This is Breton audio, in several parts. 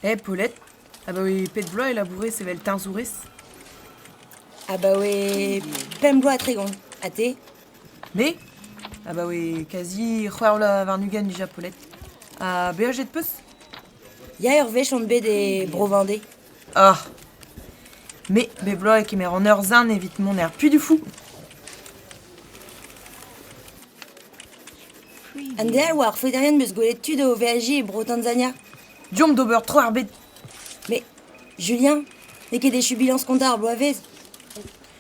Hep welet, abaoe pet vloaz e labourez evel teñzourez ? Abaoe pemp bloaz ha tregont. Ha te ? Me ? Abaoe kazi c'hwec'h vloaz warn-ugent dija, Paulette. Ha beajet 'peus ? Ya, ur wech on bet e Bro-Vendée. Ah ! me, bep bloaz e kemer an eur-zarn evit mont er Pudufoù. An den a oa ar faoterien beus gwelet tud o veajiñ e bro Tanzania. Deomp d'ober tro ar bed. Mais, Julien, n'eo ket echu bilañs kontañ ar bloavezh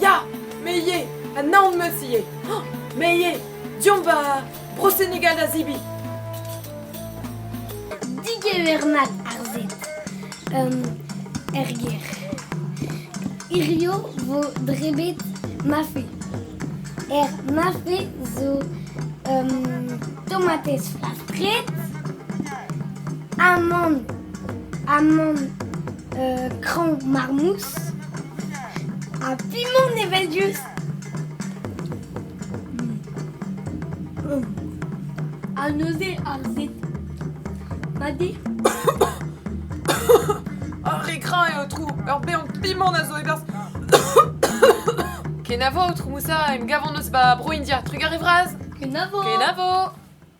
Ya, me ivez, an naon-meus ivez. Oh, me ivez, deomp ba Bro Senegal da zibi. Digevernañ ar zen. Um, er gêr. Hirio vo drebet mafe. Er mafe zo um, tomatez flastret, amand, amand uh, cran marmousse, Ha p'emaon evel diouzh ha neuze harzet ma dez Ar re grañ eo, aotrou Ur bean pimant a zo e-berzh Kenavo, aotrou Moussa, em gavan eus va bro India Trugar e vras Kenavo Kenavo